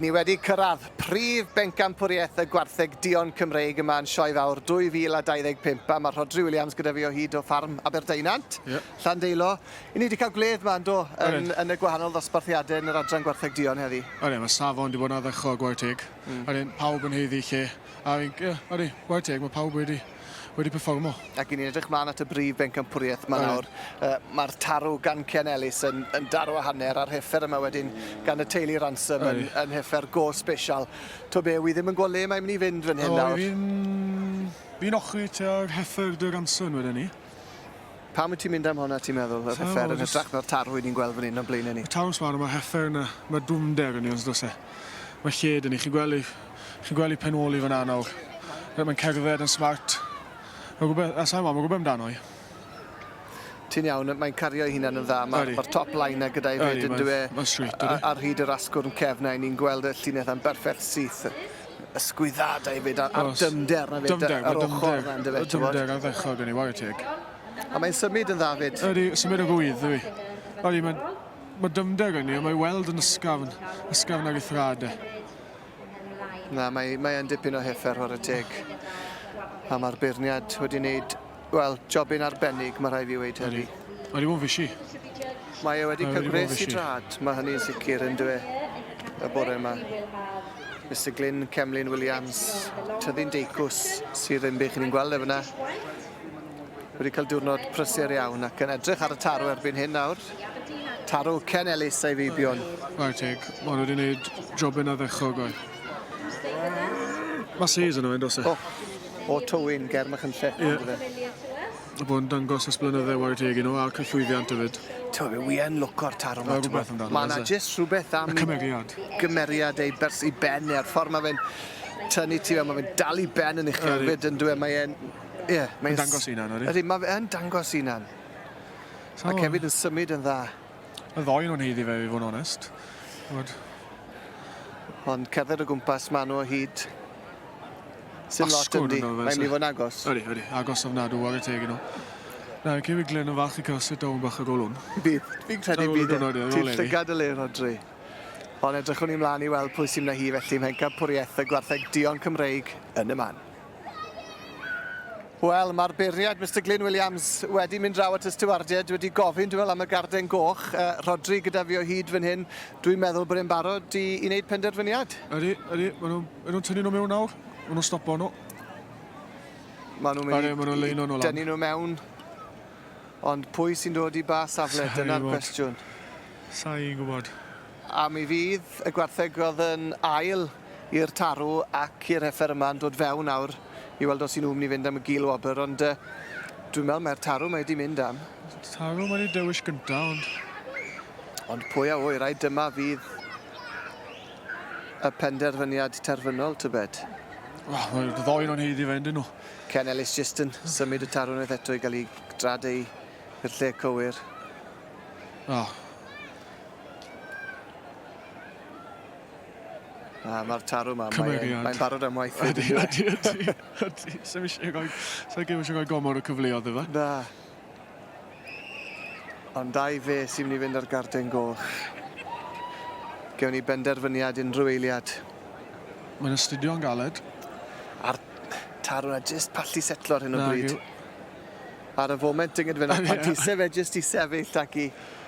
Ni wedi cyrraedd prif bencampwriaeth y gwartheg duon Cymreig yma yn Sioe Fawr 2025 a mae Rhodri Williams gyda fi o hyd o ffarm Aberdaunant, yeah. Llandeilo. I ni wedi cael gwledd yma, do, yn, yn y gwahanol ddosbarthiadau yn yr adran gwartheg duon heddi. Ydyn, mae safon wedi bod yn addechol gwaith teg. Mm. Ydyn, pawb yn heiddi lle. A fi'n, yeah, ydyn, gwaith teg, mae pawb wedi wedi perfformo. Ac i ni'n edrych mlaen at y brif bencampwriaeth yma nawr, uh, mae'r tarw gan Ken Ellis yn, yn darw a hanner a'r heffer yma wedyn gan y teulu Ransom yn, yn heffer go special. To be, wi ddim yn gweld le mae'n mynd i fynd fan hyn nawr. Fi'n fi ochri tuag heffer dy Ransom wedyn ni. Pam wyt ti'n mynd am honna ti'n meddwl? Yr hyffer yn hytrach na'r tarw i ni'n gweld fan hyn o'n blaenau ni. Y tarw swan yma, hyffer yna, mae dwfnder yn ei os dos e. Mae lled yn ei, chi'n gweld ei, chi'n gweld ei penoli fan anawr. Mae'n cerdded yn smart. Mae'n gwybod, a sa'n ma, mae'n gwybod amdano i. Ti'n iawn, mae'n cario ei hunan yn dda. Mae'r ma top line na gyda'i fyd yn dweud. Mae'n sweet, ydy. Ar hyd yr asgwrn cefna, ni'n gweld y llinell yn berffaith syth. ysgwyddadau 'fyd a'r a'r dyfnder 'na 'fyd dyfnder, ar ochr 'na yndyfe? Dyfnder ardderchog gen i ware teg. A mae'n symud yn dda 'fyd. Ydy, symud o gwydd yw 'i. Ydy, mae mae dyfnder gen i a mae weld yn ysgafn, ysgafn ar ei thrad e. Na, mae mae yn dipyn o hyffer ware teg. A mae'r beirniad wedi wneud Wel, jobyn arbennig, mae rhai fi weid heddi. Mae wedi bod yn fysi. Mae e wedi cael gwres i drad, mae hynny'n sicr yn dwe y bore yma. Mr Glyn Cemlyn Williams, tyddi'n deicws sydd yn bych ni'n gweld e fyna. Wedi cael diwrnod prysur iawn ac yn edrych ar y tarw erbyn hyn nawr. Tarw Ken Ellis a'i feibion. Right, teg. Mae wedi gwneud jobyn addechog o'i. Mae sees yno, yn dos e? Oh. o Tywyn ger Machynlleth yeah. on'd yfe? Fo yn dangos ysblenydde ware teg i nhw a'r cyllwyddiant hefyd. Ti'n meddwl, wi yn lwco'r taro ma. Rhywbeth amdano. Mae yna jyst rhywbeth am... Y cymeriad. Gymeriad ei bers i ben neu'r ffordd mae fe'n tynnu ti fe, mae fe'n dal i ben yn eich hefyd yn dweud, mae e'n... Ie, yeah, mae'n... dangos unan, ydy? Ydy, mae fe'n dangos unan. So, Mae Cefyd yn symud yn dda. Y ddoi nhw'n haeddu fe i fod yn onest. Ch'mod? Ond cerdded o gwmpas ma' nhw o hyd. Sim lot Asgwrn yndi. Mae'n mynd i fod yn agos. Ydy, ydy. Agos ofnadw ar y teg i nhw. Na, y Cefyd Glyn yn falch i cael sit down bach y golwn. Bydd. Fi'n credu Ar ôl y bydd e. diwrnod, ie, ar Ti'n ôl Efi. llygad y le, Rodri. Ond edrychwn ni mlaen i weld pwy sy'n mynd â hi felly mhen campwriaeth y gwartheg duon Cymreig yn y man. Wel, mae'r beirniad, Mr Glyn Williams, wedi mynd draw at y stiwardiaid, wedi gofyn, dwi'n meddwl, am y garden goch. Uh, Rodri gyda fi o hyd fan hyn, dwi'n meddwl bod e'n barod i, i wneud penderfyniad. Ydy, ydy, maen nhw'n ma nhw tynnu nhw mewn nawr, maen nhw'n stopo nhw. Maen nhw'n mynd i... Maen nhw'n leino nhw lan. Dynu nhw mewn, ond pwy sy'n dod i ba safle, dyna'r cwestiwn. Sa'n gwybod. A mi fydd y gwartheg oedd yn ail i'r tarw ac i'r heffer yma yn dod fewn nawr i weld os i nhw'n mynd i fynd am y gul wobr ond uh, dwi'n meddwl mae'r tarw mae wedi mynd am. Tarw mae wedi dewis gyntaf ond... Ond pwy a wy, rai dyma fydd y penderfyniad terfynol, tybed? Wel, mae ddoen o'n heiddi fe, ydyn nhw. Ken Ellis jyst yn symud y tarw unwaith eto i gael ei drad ei i'r lle cywir. Oh, Na, mae'r tarw ma, mae'n barod am waith. Ydy, ydy, ydy, ydy. Sa'n eisiau goi, sa'n gym eisiau goi gomor o cyfleodd efo. Na. Ond dau fe sy'n mynd i fynd ar garden goch. Gewn ni benderfyniad unrhyw eiliad. Mae'n astudio'n galed. A'r tarw na jyst pallu setlo ar hyn o bryd. Ar y foment, dynged fe na pallu, fe jyst i sefyll ac i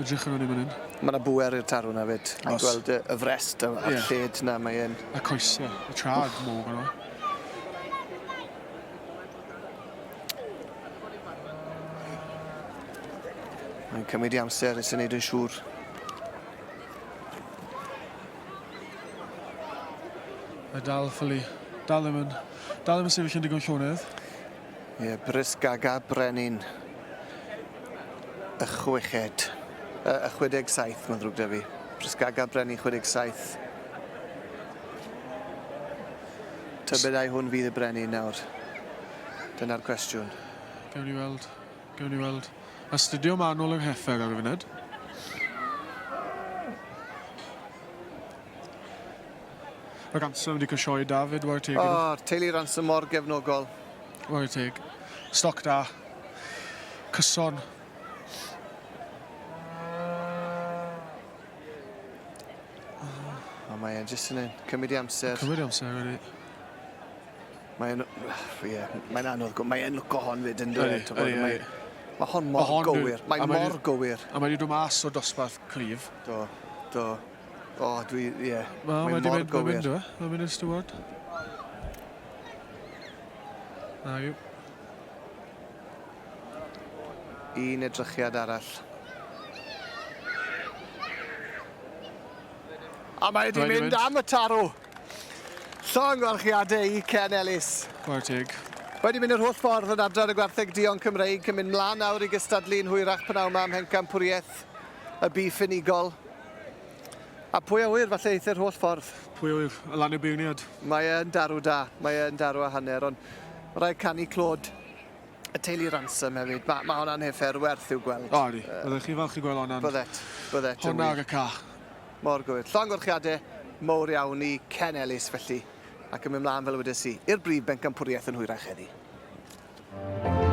Edrych arno ni fan hyn. Mae yna bŵer i'r tarw yna fyd. Oes. Ni'n gweld y, y frest a, a'r yeah. lled yna, mae e'n... Y coesau, y trad mor fan yna. Mae'n cymryd i amser i sy'n neud yn siŵr Mae dal ffylu. Dal ddim yn... Dal ddim yn sefyll yn digon llonydd. Ie, brys gaga brenin y chweched, y, y 67, mae'n ddrwg da fi. Brys gaga brenin 67. Tybed ai hwn fydd y brenin nawr? Dyna'r cwestiwn. Gewn ni weld. Gewn ni weld. Astudio manwl yng Nghefer ar y funud. Mae Ransom wedi cwsio i David, ware teg iddo. O, teulu Ransom mor gefnogol. Ware teg. Stoc da. Cyson. O, mae e'n jyst yn cymryd i amser. Cymryd i amser, wedi. Mae'n... Ie, mae'n anodd. Mae'n lwco hon fyd yn dweud. Ydy, ydy, ydy. Mae hon mor gywir. Mae mor gywir. A mae wedi dod mas o dosbarth cryf. Do, do. O, oh, dwi, ie. Yeah. Mae mor gywir. Mae'n mynd, mae'n mynd yn styward. Na yw. Un edrychiad arall. A mae wedi mynd, mynd am y tarw. Llong warchiadau i Ken Ellis. Gwaith teg. Wedi mynd yr holl ffordd yn adran y gwartheg Dion Cymreig yn mynd mlaen nawr i gystadlu'n hwyrach pnawn ma am Hencampwriaeth y bu ffynigol. A pwy a ŵyr, falle eithr holl ffordd. Pwy a ŵyr, o lan y beirniad. Mae e'n darw da, mae e'n darw a hanner, ond mae rhaid canu clod y teulu Ransom hefyd. Mae, mae hwnna'n heffer werth i'w gweld. O, ydy. Uh, Byddech chi'n falch i gweld hwnna'n... Byddet, byddet. Hwnna ar y ca. Mor gywir. Llongorchiadau mowr iawn i Ken Ellis felly, ac yn mynd mlaen fel wedes i, i'r brif bencampwriaeth yn hwyrach heddi. Thank you.